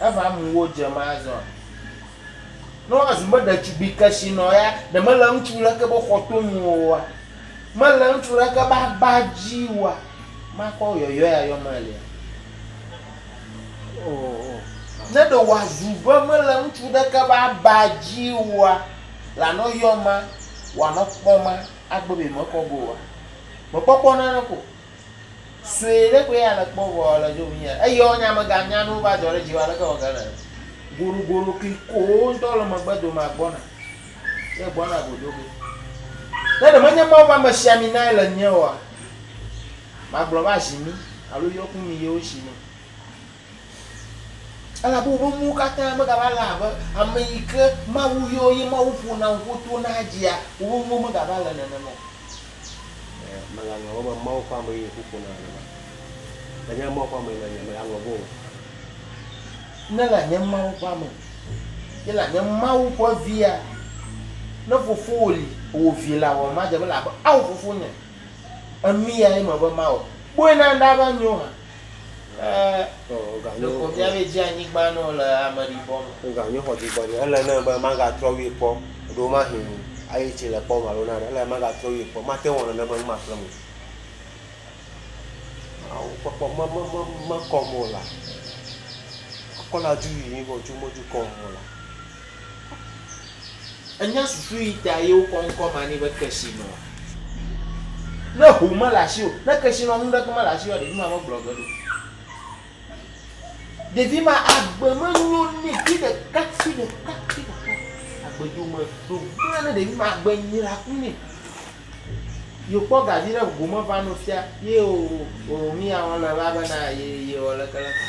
Eva mu wo dze me azɔ. Ne woazu be ɖetugbui kesinɔ ya, ɖe mele ŋutsu ɖeke be xɔto nu oa? Mele ŋutsu ɖeke be aba dzi oa? Makɔ yɔyɔe ayɔ me elia? O, o. Ne ɖe wòazu be mele ŋutsu ɖeke be aba dzi oa, lanɔ yɔ ma, wòanɔ kpɔ ma, agbe be mekɔ go oa? Mekpɔkpɔ naneke o. Sue ɖe koe ya le kpɔ vɔ le dzo mí ya. Eyɔ nya me ga nya nuwo va dzɔ ɖe dziwò aleke wɔ ge na ye. Goɖo goɖo kli kowo ŋtɔ le megbe dome a gbɔna. Ye gbɔna go do ge. Ne ɖe menye Mawu ƒe amesiami nae le nye oa, ma gblɔ va zi mí alo yɔ ku mí yewo si nɛ. Elabe woƒe mowo katã megava le abe ame yi ke Mawu yɔ eye Mawu ƒo na ŋku to na edzia, woƒe mowo megava le nenema o. Ẽ, mele ame wɔm abe Mawu ƒe amee eye ŋku ƒo nam nenema. Ne nye Mawu ƒe amee nènye, mègalɔ̃ vo o. Ne la nye Mawu ƒe ame, ye la nye Mawu ƒe via. Ne fofowò li, wò vi la, wɔ madze be le abe ao fofo nye. Enu yae mebe mawɔ. Kpɔe na ɖa be anyo hã. Ke ɖeko míabe dzi anyigba ne wòle ameɖibɔ me. Woganyo xɔ dzigbɔɖi. Ele nɛ be magatrɔ wui kpɔ ɖo mahi ayi tsi le kpɔ me alo nane. Ele be magatrɔ wui kpɔ. Mate ŋu awɔ nane be nu maƒle nu o. Mawu kpɔkpɔ me, me, me, mekɔm o laa. Mekɔ la dzu yiyim vɔ dzu medzu kɔm o laa. Ènya susu yi ta ye wokɔ ŋkɔ ma nɛ be kesinɔa? Ne ho mele asiwò, ne kesinɔ nu ɖeke mele asiwòa, ɖevi ma megblɔ ge ɖo. Ɖevi ma agbe menyo nɛ fi ɖeka, fi ɖeka, fi ɖeka. Agbe dzo me ɖo gblẽ ne ɖevi ma agbe nyra ku nɛ. Ye wokpɔ ga viɖe gome va nɔ fia ye o o o o miya wɔlɔ va be na ye ye wɔ leke leke.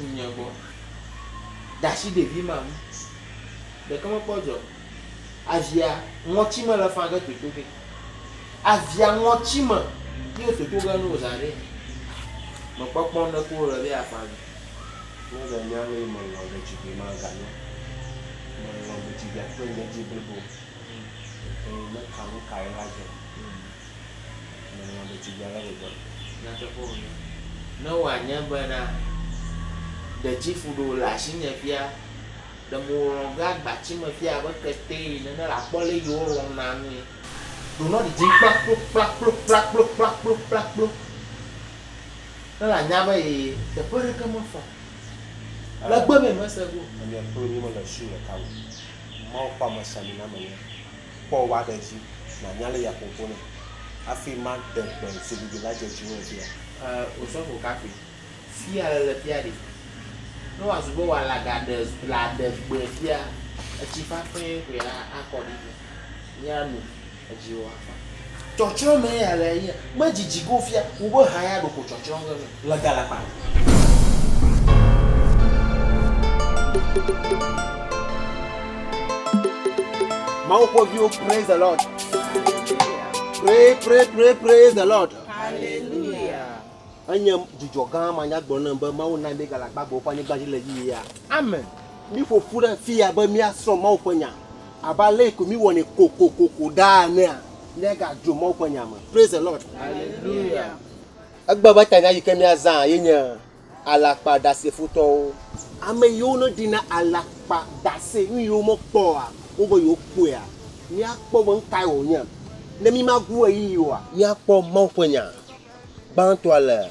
ŋnye gbɔ dasi ɖevi ma ŋu ɖeke mekpɔ dzi o avia ŋɔti me le fage toto ge avia ŋɔti me ye wo toto ge no za ɖee mekpɔkpɔ ŋɖeke o le be aƒa me ne ga nya be me lɔ ɖetugbui ma ga nyo me lɔ ɖetugbui akpɔ ŋdzi blibo o eye me ka nu ka ye la dze o. Ne wòanye bena dedzifu ɖe wòle asinye fia, ɖe mewòlɔ̃ be agbatime fia abe ketee ene ne nàkpɔ ale si wolɔ̃na nui. Ɖo ne didi kplakplokplakplokplakplokplakplokplakplo ne nànya be ye teƒe aɖeke mefɔ o. Legbe be mèse ŋu o. Ame akpe ɖeka mele su ɖeka me o. Mawu ƒe amesinamenya Kpɔ wa ɖe dzi nànya ale ya ƒoƒo nɛ hafi made gbe zigidi la dzedzi o ɖea? E, wosɔ ƒo kafui. Fia le le fia ɖi. Ne wòazu be wòale agaɖe le aɖe gbe fia, etsi ƒaƒɛ koe akɔ ɖi. Míanu edzi wòafa. Tsɔtsrɔ̃ mee ya le yia. Medzidzi go fia wu be ha ya ɖoko tsɔtsrɔ̃ ge nɛ le galakpa me. Mawu ƒe viwo praise the Lord. Pray pray pray praise the Lord. Hallelujah. Enye dzudzɔ gã ma nya gblɔ ne be Mawu na mi galakpa gbe woƒe anyigba dzi le yia. Amen. Mi ƒoƒu ɖe fia be mia srɔ̃ Mawu ƒe nya. Abe ale ko míwɔnɛ kokokoko ɖaa enea, míagadzo Mawu ƒe nya me. Praise the Lord. Hallelujah. Egbe be tanya yi ke míazã ye nye alakpaɖasefootɔwo. Ame yiwo ne ɖina alakpadase, nu yiwo mekpɔa, wobe yewokpɔea. Míakpɔ be nu kae wònye ne mímagu ɣeyiɣi oa? Míakpɔ Mawu ƒe nya gbãtɔa le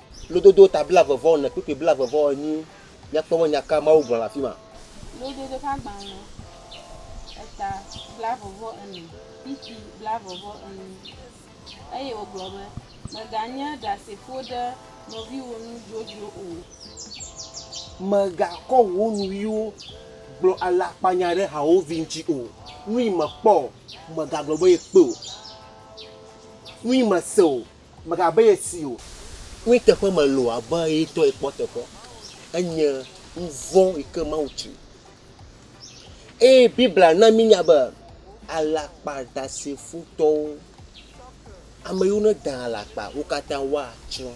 Lododo ta blaeve-vɔ-ene kpukpui blaeve-vɔ-enyi. Míakpɔ be nya ka Mawu gblɔ le afi ma. Lododo ƒe agbalẽ eta blaeve-vɔ-ene kpukpui blaeve-vɔ-enyi. Eye wògblɔ be, Mèganye ɖasefo ɖe nɔviwò nu dzodzro o. Mègakɔ wò nuyiwo gblɔ alakpanya ɖe hawòvi ŋuti o. Nuyi mèkpɔ o, mègagblɔ be yekpɔe o. Nuyi mèse o. mègabe ye si o. Kpɔe teƒe me loo abe ye ŋutɔe kpɔ teƒe. Enye nuvɔ̃ yi ke Mawu tsi. Eye Biblia na mínya be alakpadasefotɔwo, ame yiwo nedaa alakpa, wo katã woatsrɔ̃.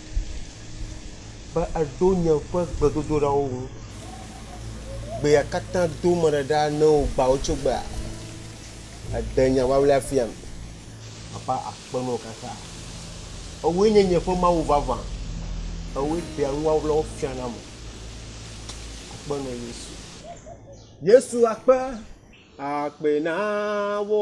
be eɖo nye ƒe gbedodoɖawo ŋu. Gbea katã do meɖe ɖa ne wogbã wò tso gbea, èɖe nya ʋlaʋlɛ fiam. Papa akpe na wò kaka. Èwòe nye nye ƒe Mawu vavã, èwòe ɖea nu ʋlaʋlawo fiam nam. Akpe na wò Yesu. Yesu akpe, akpe na wò.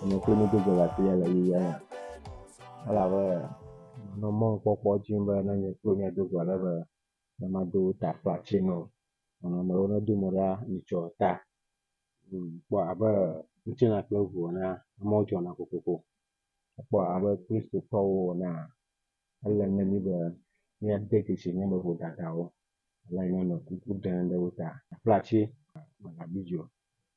Enye kple mi gbogbo le afi ya le yeyea me. Elabe nɔ mɔnukpɔkpɔ dim be ne nye kple mia do go ale be ne mado ta flati nɔ nɔnɔmewo ne do mo ɖa mitsɔ ta. Kpɔ abe ŋutilã kple ŋu ene amewo dzɔna kokoko. Kpɔ abe Kristotɔwo enea ele na mí be míade dzesi mía me vodadawo ale yi ne anɔ kuku ɖem ɖe wo ta. Flati megabi dzi o.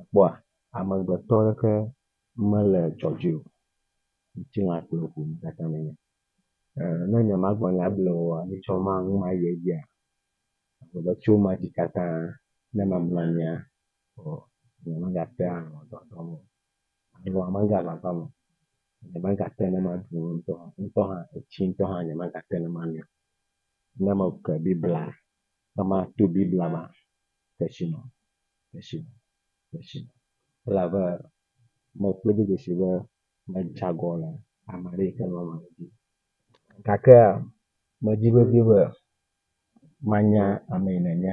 Èkpɔa? Amegbetɔ aɖeke mele dzɔdzɔe o, ŋutilã kple ʋu nu katã menye. Ne nyemagblɔ nya ble o alo tsɔ nu mayi edzia, ewɔ abe tso meva dzi katã ne mamlɔ anyia, nyemagate ŋu anɔ dɔdɔm o alo megaʋaʋã me o. Nyemagate ŋu ne maɖu nu ŋutɔ, ŋutɔ hã, etsi ŋutɔ hã nyemagate ŋu ne manoe o. Ne meke Biblia, ne mato Biblia mea… Tetsino, tetsino, tetsino. Elabe mekpɔe do dzesi be metsa agɔ le ame aɖe yi ke le wɔna dzi. Gakea medi vevie be manya ame yi nenye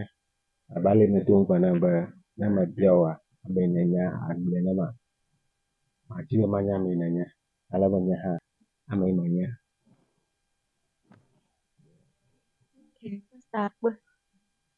abe ale yi medo ŋugbe nɛ be ne mebia wòa, ame yi nenye agblɔe ne ma. Madi be manya ame yi nenye ale be nye hã ame yi menye.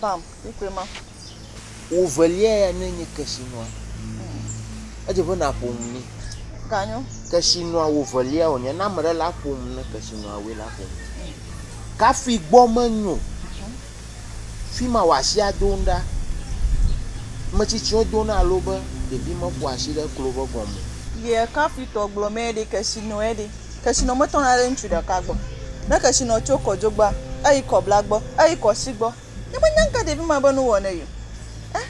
Bam, mi koe ma. Wò velia ya nɔe nye Kesinɔa. Edze be nàƒo nu nɛ. Ganyo. Kesinɔa wò velia wònye. Ne ame ɖe la ƒo nu ne Kesinɔa woe la ƒo nu. Kafi gbɔ menyo. Fi ma wò asi ado nu ɖa. Ame tsitsiwo do na alo be ɖevi meƒo asi ɖe klo be gɔme o. Yɛ kafi tɔ gblɔ mɛ ɖe Kesinɔɛ ɖe. Kesinɔ me tɔna ɖe ŋutsu ɖeka gbɔ. Ne kesinɔ tso kɔdzogbea, eyi kɔbla gbɔ, eyi kɔsi gbɔ. Ne me nya ŋka ɖevi ma be nu wɔ ne yio. Eh,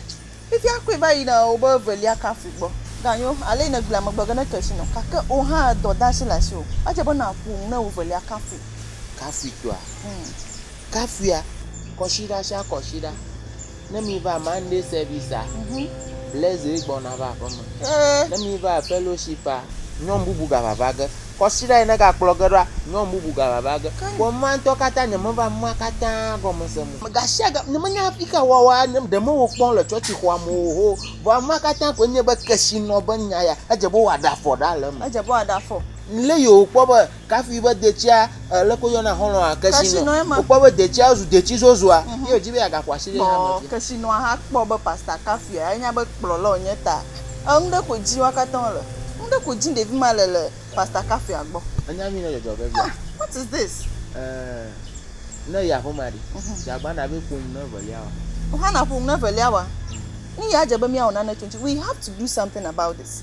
fifia koe va yina wobe velia kafi gbɔ. Ganyo, ale yi ne gblea megbe ge ne kesinɔ, gake wò hã dɔ de asi le asiwò. Edze be na ƒo nu ne wò velia kafui. Kafui tɔa? Hm. kafia kɔsiɖa sia kɔsiɖa ne mi va Monday service a Blaise ye gbɔna va aƒe me ne mi va fellowship a nyɔnu bubu gava va ge kɔsiɖa yi ne ga kplɔ ge ɖoa nyɔnu bubu gava va ge vɔ nua ŋutɔ katã nye me va nua katã gɔme sem o gasiaga nye me nya hafi ka wɔwɔa nye ɖe me wo kpɔm le tsɔtsi xɔa me o ho vɔ nua katã koe nye be kesinɔ be nya ya edze be woaɖa fɔ ɖa le eme edze be woaɖa fɔ le yi wo kpɔ be Kafui be detsia leke woyɔna xɔlɔ̃a kesinɔ. Wokpɔ be detsia zu detsi zozua ye wòdi be yeagaƒo asi ɖe hame via. Kesinɔa hã kpɔ be Pastor Kafui ya nya be kplɔla wònye ta enu ɖe koe dim wo katã wole. Nu ɖe koe dim ɖevi ma le le Pastor Kafuia gbɔ. Ènya nyui ne dzɔdzɔ ge via? Ah, what is this? Eh, ne yi aƒemea ɖe, dzeagba na be ƒo nu ne evelia wa? Hannah ƒo nu ne evelia wa. Nu ya dze be míawɔ nane tso eŋuti. We have to do something about this.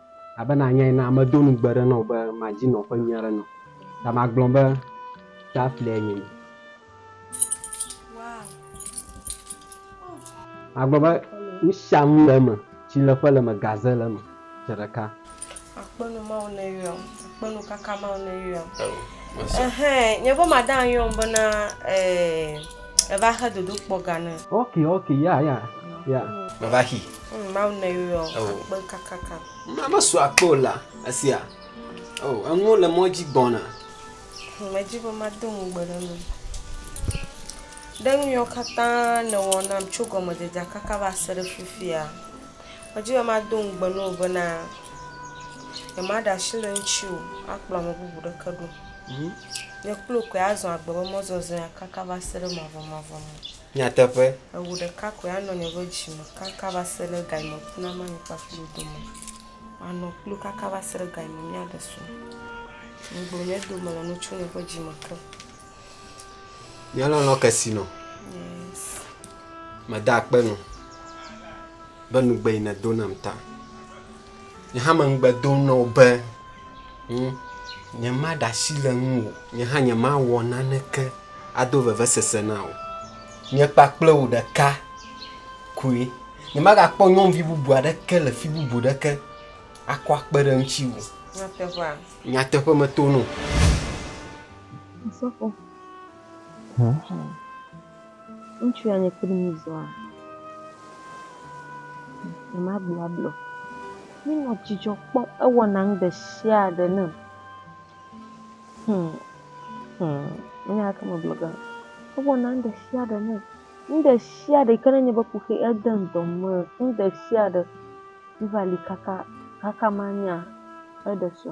Abe nànya ene, medo ŋugbe ɖe nɔwò be madi nɔƒe nyui aɖe nɔ, ta magblɔ be Daphne nye mi. Magblɔ be nusianu le eme, tsi le ƒe le eme, gaze le eme, ƒe ɖeka. Akpenu Mawu ne yɔm, akpenu kaka Mawu ne yɔm. Ehɛ, nye ƒe madam yɔm bena eh, eva xe dodokpɔ ga ne. Ok, ok, ya, ya, ya. Meva xi. Mm, Mawu ne yɔ akpe kakaka. Mesu akpe o la, esia. Oh, eŋu le mɔ dzi gbɔna. Medzi be mado ŋugbe ɖe nu. Ɖe nu yɔ katã nèwɔ nam tso gɔmedzedzea kaka va se ɖe fifia. Medzi be mado ŋugbe ne wò bena nyemaɖe asi le ŋuti o akplɔ ame bubu ɖeke ɖo. Mhm. Nye kple wò koe azɔ agbe be mɔzɔzɔea kaka va se ɖe mavɔmavɔ me. Nyateƒe. Eŋu ɖeka koe anɔ nye ƒe dzi me kaka va se ɖe ga yi me ku na manyi kple aƒe dodo me. Manɔ kplu kaka va se ɖe ga yi me mía ɖe srɔ̃. Ŋugblɔ nye dome le nu tso nye ƒe dzi me ke. Mía lɔlɔ ke si nɔ. Yes. Meda akpe nɔ. Be nugbe yi ne do nam ta. nye hã meŋugbe dom na wò be ŋu nyemaɖe asi le ŋuwò nye hã nyemawɔ naneke ado vevesese na wò. Nye kpakple wò ɖeka koe. Nyemagakpɔ nyɔnuvi bubu aɖeke le fi bubu aɖeke akɔ akpe ɖe ŋutiwò. Nyateƒea. Nyateƒe meto no. Asafo. Hm. Ŋutsua nye kpli mí zɔa, nyemagblɔagblɔ o. Míenɔ dzidzɔ kpɔm, ewɔna nu ɖe sia ɖe nam. Hum, hum, menye aleke magblɔ ge o. Ewɔna nu ɖe sia ɖe nam. Nu ɖe sia ɖe yi ke nenye be ku xee, edem dɔ me. Nu ɖe sia ɖe, míva li kaka, kaka manya eɖe sɔ.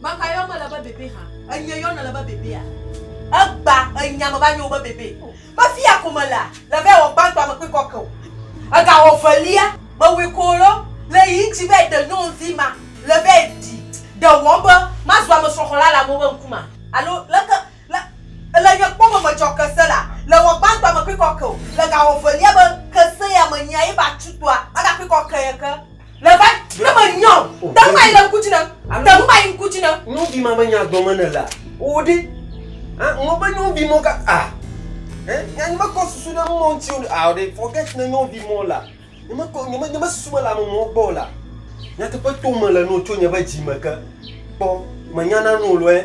Maka yɔm mele be bebe hã. Enye yɔm nèle be bebea? Egba enya me va nye wò be bebe. Be fiya ko melea, le vae wɔ gbãtɔ ame kpui kɔke o. Ega wɔ velia, mewɔe ko lɔ le yi ŋtsi vae ɖe nyɔnuvi ma le vae ɖi. Ɖe wɔm be mazu ame srɔxɔla le amewo be ŋkumea? Alo leke Le, le nye kpɔme medzɔ kese la, le wɔ gbãtɔa me kpikɔ ke o, le ga wɔ velia be kese ya me nyia ye ba tsu toa, aga kpikɔ ke ye ke. Le va ne me nyɔ, te ŋu ayi le ŋku dzi ne, te ŋu ayi ŋku dzi ne. Nyɔvi ma be nya gblɔ me ne lea, o ɖe, a, ŋlɔ be nyɔvi mɔ ka, a, ɛ, nya nye me kɔ susu ɖe mɔ ŋuti o ɖe, a, o ɖe, forget ne nyɔvi mɔ la, nye me kɔ, nye me, nye me susu me le ame mɔ gbɔ o la, nyateƒe to me le no tso nye be dzi me ke, kpɔ, me nya na no lɔɛ.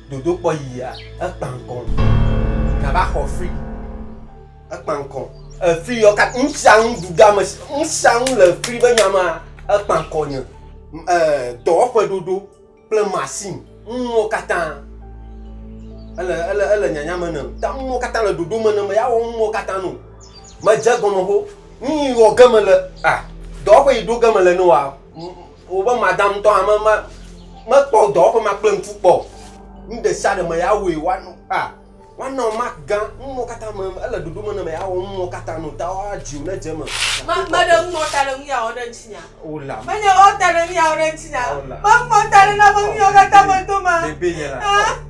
Dodokpɔ yia ekpa ŋkɔ. Nava xɔ free. Ekpa ŋkɔ. Efree yɔ ka nu sia nu ɖu ɖe ame sia nu sia nu le efree be nya mea ekpa ŋkɔ nye. Ee dɔwɔƒe ɖoɖo kple machine nuwo katã ele ele ele nyanya me nam. Ta nuwo katã le ɖoɖo me nam be yeawɔ nuwo katã no. Medze egɔme ho. Nu yi wɔ ge mele a dɔwɔƒe yi ɖo ge mele ne woa Wobe madam ŋutɔ hã me me mekpɔ dɔwɔƒe ma kple ŋku kpɔ o. Nu ɖe sia ɖe me ya wɔe woanɔ a woanɔ mak gã nuwo katã me ele ɖoɖo me nɔ me awɔ nuwo katã nɔ ta woa dziwo ne dze me. Me me ɖe ŋu nɔ ta ɖe nu ya wɔ ɖe ŋuti nya. O la. Me nye wɔ ta ɖe nu ya wɔ ɖe ŋuti nya. O la. Me ŋu nɔ ta ɖe na be nu ya katã me do ma. Bebe nye la. Ah.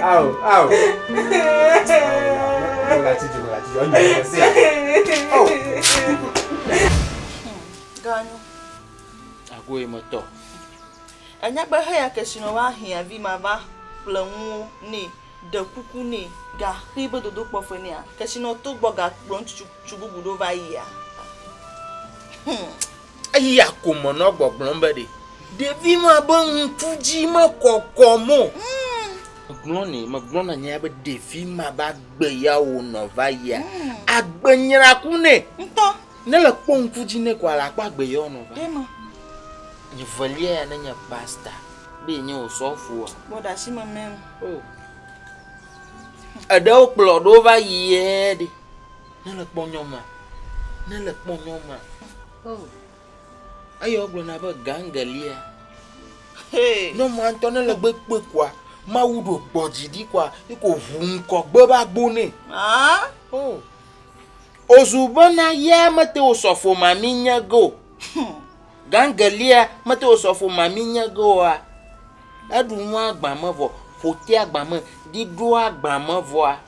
Ao, ao. Ganyo. Agoe metɔ. Enya be heya kesino wa hia vi ma va ƒle ŋuwo nɛ ɖe kuku nɛ ga xi be dodo kpɔƒe nɛ a kesino to gbɔ ga kplɔ ŋutsu bubu ɖo va yia. Hmm. Eya ko menɔ gbɔgblɔm be ɖe ɖevi ma be ŋku dzi mekɔkɔm o. Megblɔ nɛ, megblɔ na nyea be ɖevi ma be agbe ya wònɔ va yia, agbe nyra ku nɛ. Ŋutɔ. Ne le kpɔ ŋku dzi nɛ ko ala kpɔ agbe ya wònɔ va. Ɖema. Nye velia ya ne nye pasta be nye wò sɔfoa. Bɔ ɖe asi me mɛm. Oh. Eɖewo kplɔ ɖewo va yi ye ɖe. Nele kpɔ nyɔ ma. Nele kpɔ nyɔ ma. Oh. Eye wogblɔ na be gangelia. Hey. Nyɔ ma ŋutɔ nele gbe kpe kɔa. Mawu ɖo gbɔ dzi ɖi kɔa. Yi ko ʋu ŋkɔ gbe ba gbo nɛ. Ah. Oh. Ozu bena ya mete wo sɔfo ma mi nye go. Hmm. Gangelia mete wo sɔfo ma mi nye go wa. Eɖu nua gbame vɔ. Ƒotea gbame. Ɖiɖoa gbame vɔa.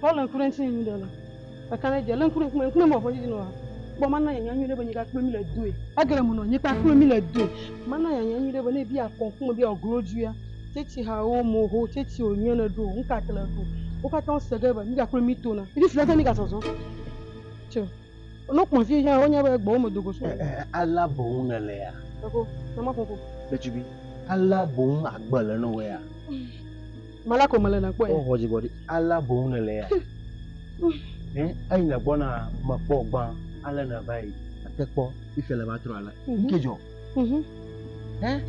Paul le ŋku ɖe ŋuti nyuiɖe le. Eka ne dze le ŋku ɖe ŋkume ŋku ne mɔ fɔdzi nɔ ha. Kpɔ mana yanya nyuiɖe be nyika kple mi le doe. Egere mu nɔ nyika kple mi le doe. Mana yanya nyuiɖe be ne bi akɔ ŋku me bi awɔ glo dzuia. Tsɛtsi ha wo mo ho tsɛtsi wo nyuie le ɖo ŋka kle ɖo. Wo katã wo se ge be nyika kple mi tona. Ifi fila ta nyika sɔsɔ. Tse. Eno kpɔn si hã wonye be gbɔwo me do go so. Ɛɛ, alea boŋ nèle ya. Eko, ne ma ƒoƒo. Ɖetugbi, alea boŋ agbe le nɔwò ya. Mala ko mele nakpɔe. Wo xɔ dzigbɔɖi, alea boŋ nèle ya. Ɛ, eyi nègbɔna mekpɔ gbã, ale nèva yi. Ate kpɔ ife le va trɔ ale. Ŋke dzɔ. Ɛ,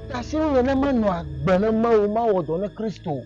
tasinye ne menɔ agbe ne Mawu mawɔ dɔ ne Kristo.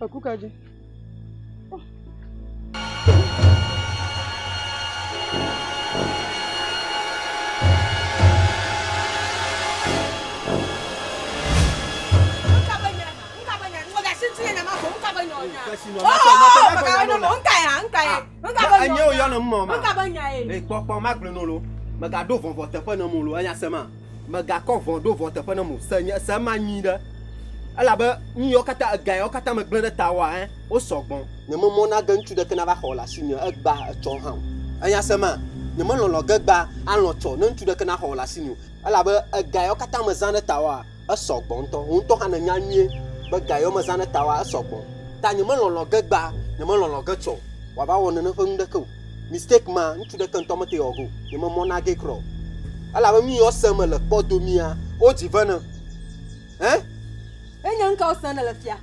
Eku ka dzi? Enye wo yɔ ne mɔ ma. Ekpɔkpɔ ma gblɔ nolo. Mega ɖo vɔvɔ teƒe ne molo. Enya sema. Mègakɔ vɔ̃ ɖo vɔ̃ teƒe nam o, se nye se ma nyuiɖe. Elabe nu yawo katã, ega yawo katã megblẽ ɖe tawòa, ẽ, wosɔ gbɔ. Nyememɔ na ge ŋutsu ɖeke nava xɔ le asinye egbea etsɔ hã o. Ènya se ma? Nyemelɔ̃lɔ̃ ge egbea alɔ̃ tsɔ ne ŋutsu ɖeke naxɔ le asinye o. Elabe ega yawo katã mezã ɖe tawòa, esɔ gbɔ ŋutɔ. Wò ŋutɔ hã nènya nyuie be ga yawo mezã ɖe tawòa, esɔ gbɔ. Ta nyemelɔ̃lɔ̃ ge egbea, nyemelɔ̃lɔ̃ ge tsɔ wòava wɔ nene ƒe nu ɖeke o. Mistake ma, ŋutsu ɖeke ŋutɔ mete ɔg o, nye me mɔ nage krɔ o. Elabe nu yi ɔ se me le kpɔ domia, wo dzi ve ne. Hein? Enye ŋka wo se ne le fia?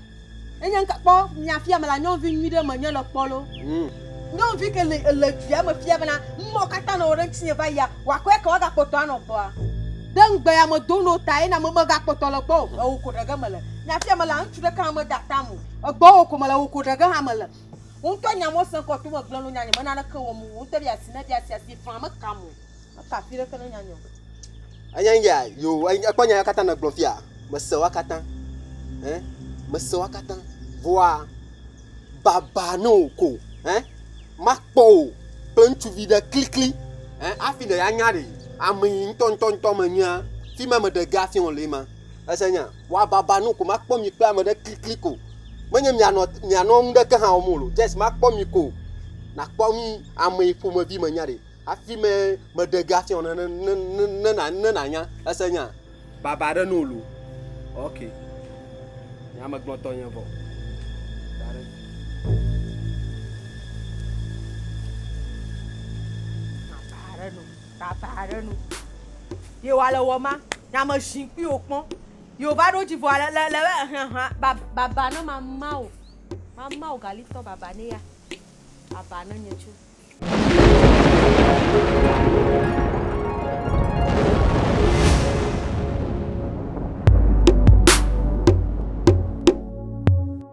Enye ŋka, kpɔ, mia fia me la, nyɔnuvi nyui ɖe me nye le kpɔ lo. Hmm. Nyɔnuvi ke le, ele via me fia bena, numɔ kata nɔ wo ɖe ŋtsinye va yia, wa kɔɛ ke wa ga kpɔtɔ anɔ gbɔa. Ɖe ŋgbe ya me do no ta ye na me me ga kpɔtɔ le gbɔ o. Ewo ko ɖege me le. Mia fia me la, ŋutsu ɖeke hã me da tam o. Egbɔ wo ko me le, ewo ko ɖege hã me le. Wò ŋutɔ nya mɔ sẽŋ kɔ tome gblẽ lo nyanya me naneke wɔm o. Wò ŋutɔ ɖi asi ne ɖi asi asi faa mekam o. Meka afi ɖeke ne nyanya o. Anya eya yo ekpɔ nya katã ne gblɔ fia mese wa katã eh mese wa katã voa baba ne o ko eh makpɔ o kple ŋutsuvi ɖe klikli eh afi ɖe ya nya ɖe ame yi ŋutɔ ŋutɔ ŋutɔ me nyea fi ma me ɖe ga fi ŋɔ le ma ese nya Woababa nu ko, makpɔ mi kple ame ɖe kliklik o. Menye mianɔ, mianɔ nuɖeke hã wɔm o. Just makpɔ mi ko. Nàkpɔ nu amee ƒomevi menya ɖe. Hafi me, meɖe ge hafi ne, ne, ne, ne, ne, ne nànya. Èse nya? Baba aɖe nu wòlu. Ok. Nye ame gbɔtɔ nye vɔ. Da ɖe. Baba aɖe nu. Tata aɖe nu. Ye wa le wɔ ma, nya me ʒin kpui wo kpɔn. Yo va ɖo dzi vɔ le le le be hã hã ba ba ba ne ma ma o. Ma ma o gali tɔ ba ba ne ya. Ba ba ne nye tso.